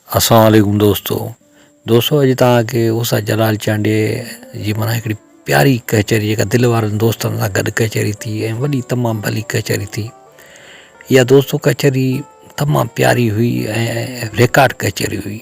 السلام عليڪم دوستو دوستو اڄ توهان کي اوسا جلال چانڊيي جي مانا هڪڙي پياري ڪچهري جيڪا دل وارن دوستن سان گڏ ڪچهري ٿي ۽ وڏي تمام ڀلي ڪچهري ٿي اها دوستو ڪچهري تمام پياري هئي ۽ ريڪارڊ ڪچهري هئي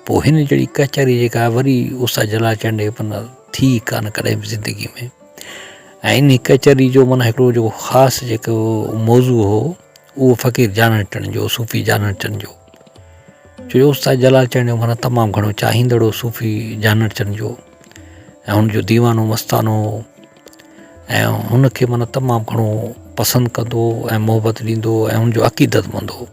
پوء هن جهڙي ڪچهري جيڪا وري اس جلا چنڊ جي پن ٿي ڪانه ڪڏهن به زندگي ۾ ۽ انهي ڪچهري جو معنيٰ هڪڙو جيڪو خاص جيڪو موضوع هو اهو فقير جانڻ ٽڻ جو صوفي جانڻ ٽڻ جو ڇو جو استاد جلال چنڙ جو معنيٰ تمام گهڻو چاهيندڙو صوفي جانڻ ٽڻ جو ۽ هن جو ديوانو مستانو هو ۽ هن کي معنيٰ تمام گهڻو پسند ڪندو هو ۽ محبت ڏيندو هو ۽ هن جو عقيدت مند هو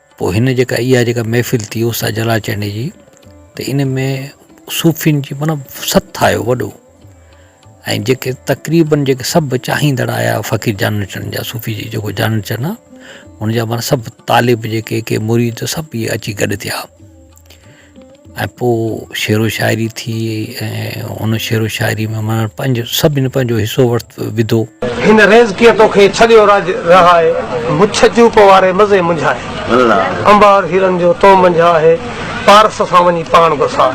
پوء هن جيڪا اها جيڪا محفل ٿي استاد جلال چانڊيي جي ته ان ۾ صوفين جي مطلب سٿ آيو وڏو ۽ جيڪي تقريبن جيڪي سڀ چاهيندڙ آيا فقير جانڻ چن جا صوفي جي جيڪو جانڻ چن آ ان جا مطلب سڀ طالب جيڪي ڪي مريد سڀ اچي گڏ ٿيا ۽ پوء شعر و شاعري ٿي ۽ ان شعر و شاعري ۾ ماڻهن پنهنجو سڀني پنهنجو حصو ورتو وڌو. هن ريز ڪيئن توکي ڇڏيو راڄ رهائي مڇ چوپ واري مزي منجهائي انبار هيرن جو تو منجهه آهي پارس سان وڃي پاڻ گساء.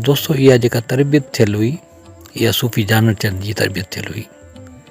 دوستو اها جيڪا تربيت ٿيل هئي اها صوفي جانڻ چند جي تربيت ٿيل هئي.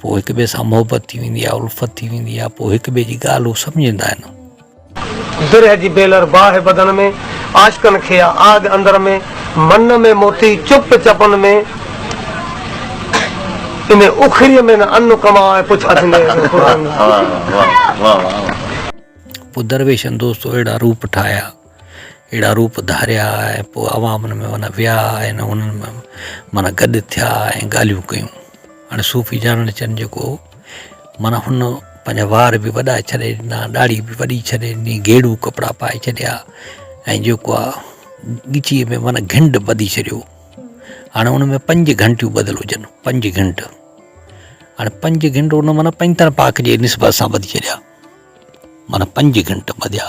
پوء هڪ ٻئي سان محبت ٿي ويندي آهي الفت ٿي ويندي آهي پوء هڪ ٻئي جي ڳالهه هو سمجهندا آهن. درهه جي بيلر باهه بدن ۾، عاشقن کي آ آڳ اندر ۾، من ۾ موتي چپ چپن ۾، ان اکري ۾ نه ان ڪم آء پڇا ٿيندي آهي. پوء درويشن دوستو اهڙا روپ ٺاهيا. اهڙا روپ ڌاريا ۽ پوء عوام ان ۾ معنيٰ ويا ۽ انهن ۾ معنيٰ گڏ ٿيا ۽ ڳالهيون ڪيون هاڻي صوفي جانڻ چن جيڪو هو معنيٰ هن پنهنجا وار به وڏا ڇڏي ڏنا ڏاڙهي به وڏي ڇڏي ڏني گيڙو ڪپڙا پائي ڇڏيا ۽ جيڪو آ ڳچيء ۾ معنيٰ گهنڊ ٻڌي ڇڏيو هاڻي ان ۾ پنج گهنٽيون ٻڌل هجن پنج گهنڊ هاڻي پنج گهنڊ ان معنيٰ پنجتڻ پاڪ جي نسبت سان ٻڌي ڇڏيا معنيٰ پنج گهنٽ ٻڌيا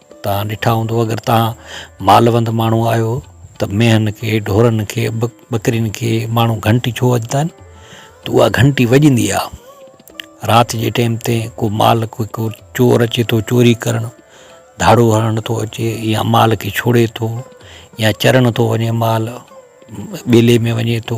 توهان ڏٺا هوندو اگر توهان مالوند ماڻهو آهيو ته مينهن کي ڍورن کي ٻڪرين کي ماڻهو گهنٽي ڇو وڄندا آهن ته اها گهنٽي وڄندي آهي رات جي ٽيم تي ڪو مال ڪو ڪو چور اچي ٿو چوري ڪرڻ ڌاڙو هڻڻ ٿو اچي يا مال کي ڇوڙي ٿو يا چرڻ ٿو وڃي مال ٻيلي ۾ وڃي ٿو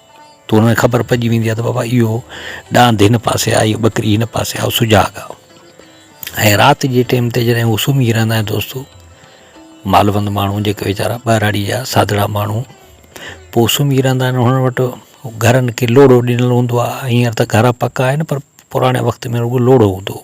تون کي خبر پئجي ويندي آ ته بابا اهو ڏاند هن پاسي آ اهي ٻڪري هن پاسي آ اهو سجاڳ آ ۽ رات جي ٽيم تي جڏهن هو سمهي رهندا آهن دوستو مالوند ماڻهو جيڪي ويچارا ٻهراڙي جا سادڙا ماڻهو پوء سمهي رهندا آهن هنن وٽ گهرن کي لوڙهو ڏنل هوندو آ هينئر ته گهر پڪا آهن پر پراڻي وقت ۾ رڳو لوڙهو هوندو هو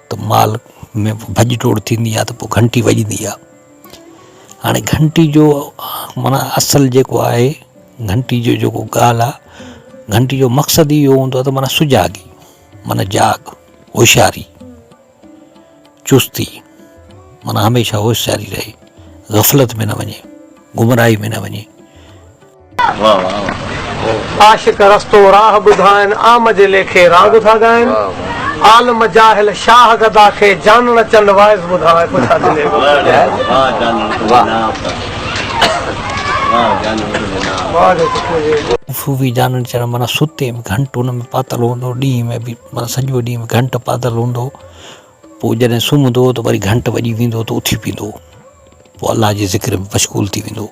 ته مال ۾ ڀڄ ڊوڙ ٿيندي آهي ته پوء گهنٽي وڄندي آهي هاڻي گهنٽي جو معنيٰ اصل جيڪو آهي گهنٽي جو جيڪو ڳالهه آهي گهنٽي جو مقصد اهو هوندو آهي ته معنيٰ سجاڳي معنيٰ جاڳ هوشياري چستي معنيٰ هميشه هوشياري رهي غفلت ۾ نه وڃي گمراهي ۾ نه وڃي عاشق رستو راهه ٻڌائن، عام جي ليکي راڳ ٿا ڳائن، عالم جاهل شاهه گدا کي، جانڻ چند واعظ ٻڌائن. صوفي جانڻ چند معنيٰ ستي به گهنٽ ان ۾ پاتل هوندو هو، ڏينهن ۾ به معنيٰ سڄو ڏينهن گهنٽ پاتل هوندو هو، پوء جڏهن سمهندو هو ته وري گهنٽ وڄي ويندو هو ته اٿي پيندو هو، پوء الله جي ذڪر ۾ مشغول ٿي ويندو هو.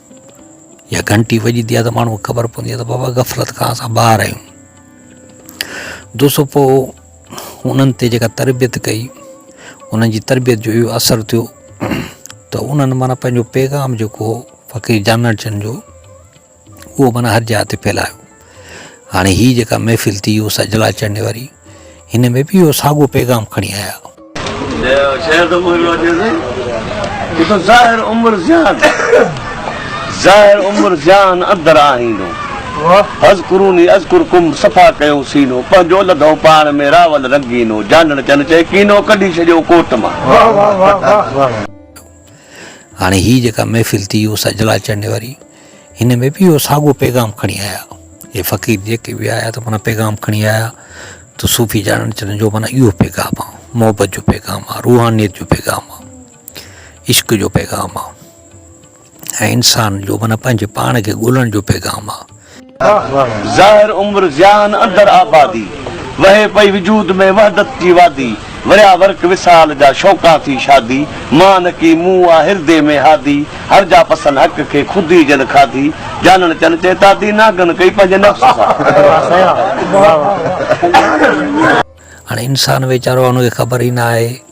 يا گھنٽي وڄندي آ ته ماڻهو کي خبر پوندي آ ته بابا غفلت کان اسان ٻاهر آهيون دوستو پوء انهن تي جيڪا تربيت ڪئي انهن جي تربيت جو اهو اثر ٿيو ته انهن معنی پنهنجو پيغام جيڪو هو فقير جانڻ چند جو اهو معنی هر جاء تي ڦيلايو هاڻي هي جيڪا محفل ٿي يو سجلا چڙهڻي واري هن ۾ به يو ساڳو پيغام کڻي آيا. شهر ته مهل اچي سائين جتو ظاهر عمر زيان ظاهر عمر زيان اندر آهينو حذڪروني اذڪرڪم صفا ڪيو سينو پنهنجو لڌو پاڻ ۾ راول رنگينو جانڻ چن چئي ڪينو ڪڍي ڇڏيو ڪوٽ مان. هاڻي هي جيڪا محفل ٿي يو سجلا چڙهڻي واري. هن ۾ به اهو ساڳو پيغام کڻي آيا. اهي فقير جيڪي به آيا ته معنيٰ پيغام کڻي آيا ته صوفي جانڻ چنن جو معنيٰ اهو پيغام آ. محبت جو پيغام آ، روحانيت جو پيغام آ، عشق جو پيغام آ ۽ انسان جو معنيٰ پنهنجي پاڻ کي ڳولڻ جو پيغام آ. ظاهر عمر ضيان اندر آبادي، وهي پئي وجود ۾ وحدت جي وادي، وريا ورق وصال جا شوقان ٿي شادي، مان نڪي مون آ هردي ۾ هادي، هر جا پسن حق کي خود ئي جن کاڌي، جانڻ چن چي تادي، ناگن ڪئي پنهنجي نفس سان. هاڻي انسان ويچارو ان کي خبر ئي نه آهي.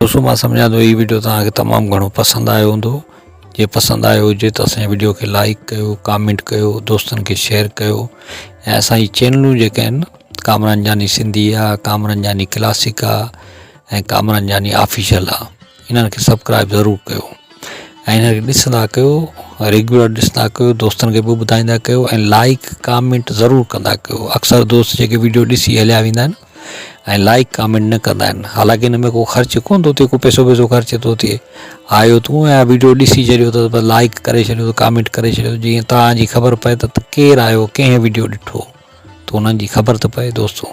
دوستو مان سمجهان ٿو هي ويڊيو توهان کي تمام گهڻو پسند آيو هوندو جي پسند آيو هجي ته اسان جي ويڊيو کي لائڪ ڪيو ڪامينٽ ڪيو دوستن کي شيئر ڪيو ۽ اسان جي چينلون جيڪي آهن ڪامران جاني سنڌي آ ڪامران جاني ڪلاسڪ آ ۽ ڪامران جاني آفيشل آ انهن کي سبڪرائب ضرور ڪيو ۽ انهن کي ڏسندا ڪيو ريگيولر ڏسندا ڪيو دوستن کي به ٻڌائيندا ڪيو ۽ لائڪ ڪامينٽ ضرور ڪندا ڪيو اڪثر دوست جيڪي ويڊيو ڏسي هليا ويندا آهن ۽ لائڪ ڪامينٽ نه ڪندا آهن حالانڪه ان ۾ ڪو خرچ ڪون ٿو ٿئي ڪو پيسو ويسو خرچ ٿو ٿئي آيو تون ۽ ويڊيو ڏسي ڇڏيو اٿس بس لائڪ ڪري ڇڏيو ڪامينٽ ڪري ڇڏيو جيئن تان جي خبر پئي ته ڪير آيو ڪنهن ويڊيو ڏٺو ته انهن جي خبر ته پئي دوستو